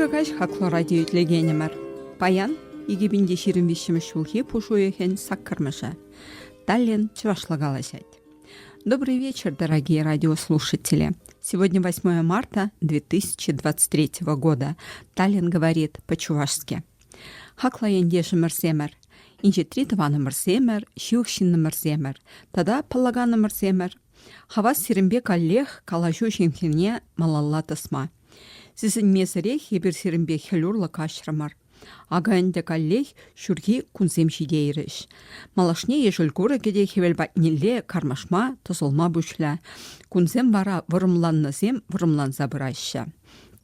Ырӑ каҫ хаклӑ радио итлекенӗмӗр. Паян 2025 ҫулхи пуш уйӑхӗн саккӑрмӗшӗ. Таллин чӑвашла калаҫать. Добрый вечер, дорогие радиослушатели. Сегодня 8 марта 2023 года. Таллин говорит по-чувашски. Хаклӑ ентешӗмӗрсемӗр, инҫетри тӑванӑмӑрсемӗр, ҫывӑх ҫыннӑмӑрсемӗр тата паллаканӑмӑрсемӗр, хавас сирӗнпе каллех калаҫу ҫынхине малалла тӑсма. Сисӗнмесӗрех эпир сирӗнпе хӗл урлӑ каҫрӑмӑр. Акӑ ӗнтӗ каллех ҫурхи кунсем ҫитейрӗҫ. Малашне ешӗл курӑкӗ те хӗвел патнелле кармашма, тӑсӑлма пуҫлӗ. Кунсем вара вӑрӑмланнӑсем вӑрӑмланса пыраҫҫӗ.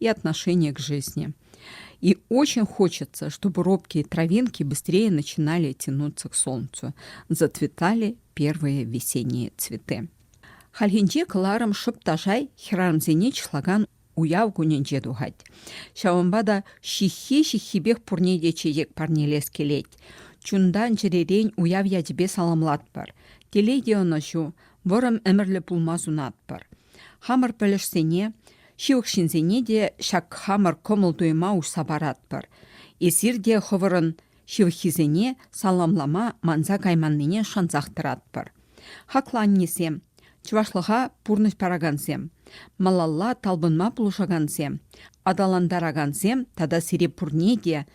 и отношение к жизни. И очень хочется, чтобы робкие травинки быстрее начинали тянуться к солнцу, зацветали первые весенние цветы. Хальхинче кыларым шыпташай хӗрарӑмсене чыслакан уяв кунӗнче тухать. Ҫавӑнпа та ҫыххи-ҫыххипех пурне те чечек парнелес килет. Чунтан чӗререн уяв ячӗпе саламлатпӑр. Телей те ӑнӑҫу, вӑрӑм ӗмӗрлӗ пулма сунатпӑр. Хамӑр пӗлӗшсене Ҫывӑх ҫынсене те ҫак хамӑр кӑмӑл-туйӑма уҫса паратпӑр. Эсир те хӑвӑрӑн ҫывӑххисене саламлама манса кайманнине шансах тӑратпӑр. Хаклӑ аннесем, чӑвашлӑха пурнӑҫ паракансем, малалла талпӑнма пулӑшакансем, аталантаракансем тата сире пурне те,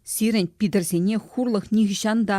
сирӗн Питӗрсене хурлӑх нихӑҫан та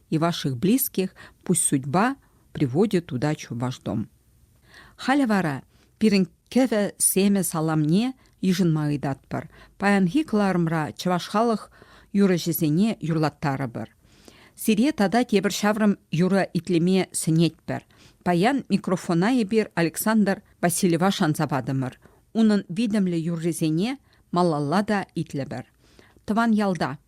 и ваших близких пусть судьба приводит туда ваш дом. Халӗ вара пирӗн кӗвӗ семӗ саламне йышӑнма ыйтатпӑр. Паянхи кӑларӑмра чӑваш халӑх юрӑҫисене юрлаттарӑпӑр. Сире тата тепӗр ҫаврӑм юрӑ итлеме сӗнетпӗр. Паян микрофона эпир Александр Васильева шанса патӑмӑр. Унӑн витӗмлӗ юррисене малалла та итлӗпӗр. Тӑван ялта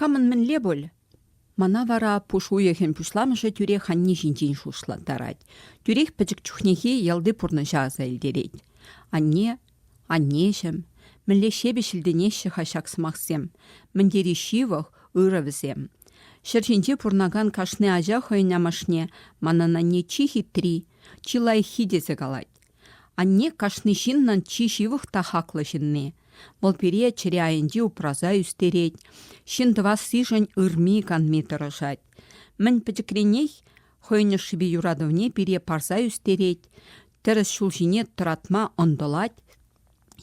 Камӑн мӗнле пуль? Мана вара пуш уйӑхӗн пуҫламӑшӗ тӳрех анне ҫинчен шутлаттарать. Тӳрех пӗчӗк чухнехи ялти пурнӑҫа аса илтерет. Анне Аннеҫӗм, мӗнле ҫепӗҫ илтӗнеҫҫӗ-ха ҫак сӑмахсем, мӗн тери ҫывӑх, ырӑ вӗсем. Ҫӗр ҫинче пурӑнакан кашни ача хӑйӗн амӑшне «манӑн анне чи хитри, чи лайӑххи» тесе калать. Анне кашни ҫыннӑн чи ҫывӑх та хаклӑ ҫынни. Вӑл пире чӗре айӗнче упраса ӳстерет, ҫын тӑвассишӗн ырми-канми тӑрӑшать. Мӗн пӗчӗкренех хӑйӗн ӑшшипе юратӑвне пире парса ӳстерет, тӗрӗс ҫул ҫине тӑратма ӑнтӑлать,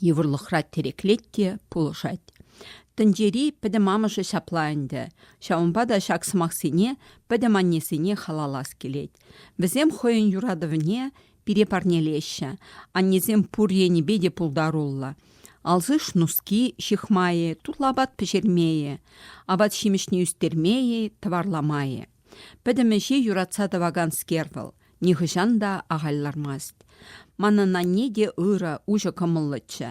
йывӑрлӑхра тӗреклет те пулӑшать. Тӗнчери пӗтӗм амӑшӗ ҫапла ӗнтӗ. Ҫавӑнпа та ҫак сӑмахсене пӗтӗм аннесене халаллас килет. Вӗсем хӑйӗн юратӑвне пире парнелеҫҫӗ. Аннесем пур енӗпе те пултаруллӑ. Алсыш нуски ҫыхмайӗ, тутлӑ апат пӗҫермейӗ, апат-ҫимӗҫне ӳстермейӗ, тӑварламайӗ. Пӗтӗм ӗҫе юратса тӑваканскер вӑл, нихӑҫан та ахаль лармасть. Манӑн анне те ырӑ, уҫӑ кӑмӑллӑччӗ.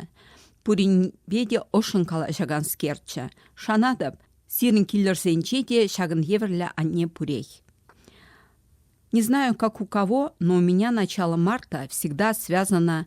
Пуринпе те ӑшшӑн калаҫаканскерччӗ. Шанатӑп, сирӗн киллӗрсенче те ҫакӑн евӗрлӗ анне пурех. Не знаю, как у кого, но у меня начало марта всегда связано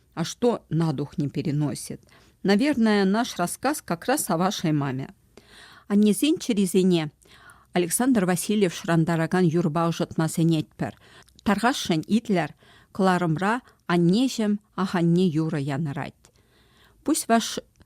А что на дух не переносит? Наверное, наш рассказ как раз о вашей маме. Аннесен чӗрисене Александр Васильев шӑрантаракан юрпа ӑшӑтма сӗнетпӗр. Тархасшӑн итлер, кӑларӑмра аннеҫӗм аханне юрӑ янӑрать. Пусть ваш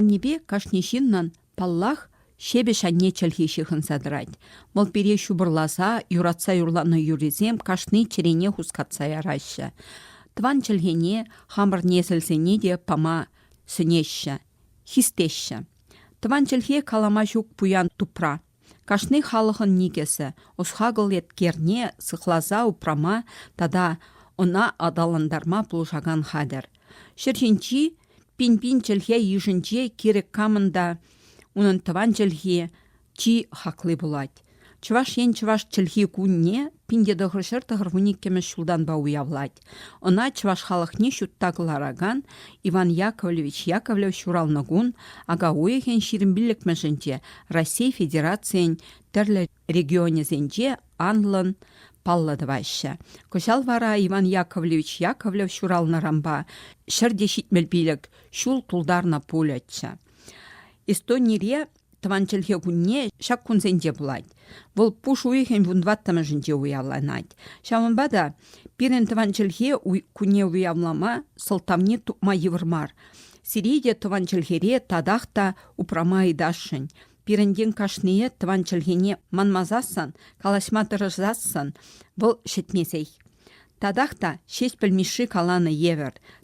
Аннепе кашни ҫыннӑн, паллах, ҫепӗҫ анне чӗлхи ҫыхӑнса тӑрать. Вӑл пире ҫупӑрласа, юратса юрланӑ юррисем кашни чӗрене хускатса яраҫҫӗ. Тӑван чӗлхене, хамӑр несӗлсене те пама сӗнеҫҫӗ, хистеҫҫӗ. Тӑван чӗлхе калама ҫук пуян тупра. Кашни халӑхӑн никӗсӗ, ӑс-хакӑл еткерне сыхласа упрама тата ӑна аталантарма пулӑшакан хатӗр. Ҫӗр ҫинчи пин-пин чӗлхе йышӗнче кирек камӑн та унӑн тӑван чӗлхи чи хакли пулать. Чӑваш Ен Чӑваш чӗлхи кунне пин те тӑхӑр ҫӗр тӑхӑр вун иккӗмӗш ҫултанпа уявлать. Ӑна чӑваш халӑхне ҫутта кӑларакан Иван Яковлевич Яковлев ҫуралнӑ кун ака уйӑхӗн ҫирӗм пиллӗкмӗшӗнче Раҫҫей Федерацийӗн тӗрлӗ регионӗсенче анлӑн паллӑ тӑваҫҫӗ. Кӑҫал вара Иван Яковлевич Яковлев ҫуралнӑранпа ҫӗр те ҫитмӗл пилӗк ҫул тултарнӑ пулӗччӗ. Эстонире Тӑван чӗлхе кунне ҫак кунсенче пулать. Вӑл пуш уйӑхӗн вунтӑваттӑмӗшӗнче уявланать. Ҫавӑнпа та пирӗн тӑван чӗлхе кунне уявлама сӑлтавне тупма йывӑр мар. Сире те тӑван чӗлхере татах та упрама ыйтасшӑн. Пирӗнтен кашнийӗ тӑван чӗлхене манмасассӑн, калаҫма тӑрӑшасшӑн, вӑл ҫӗтмесех. Татах та Ҫеҫпӗл Мишши каланӑ евӗр,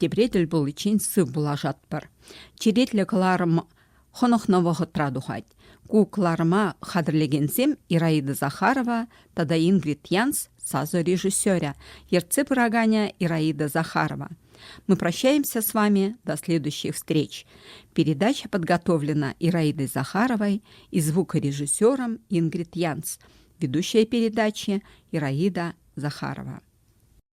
Тепре тӗл пуличчен сыв пулашатпӑр. Черетлӗ кӑларӑм хӑнӑхнӑ вӑхӑтра тухать. Ку кӑларӑма хатӗрлекенсем Ираида Захарова тата Ингрид Янс сасӑ режиссерӗ, ертсе пыраканӗ Ираида Захарова. Мы прощаемся с вами до следующих встреч. Передача подготовлена Ираидой Захаровой и звукорежиссером Ингрид Янс. Ведущая передачи Ираида Захарова.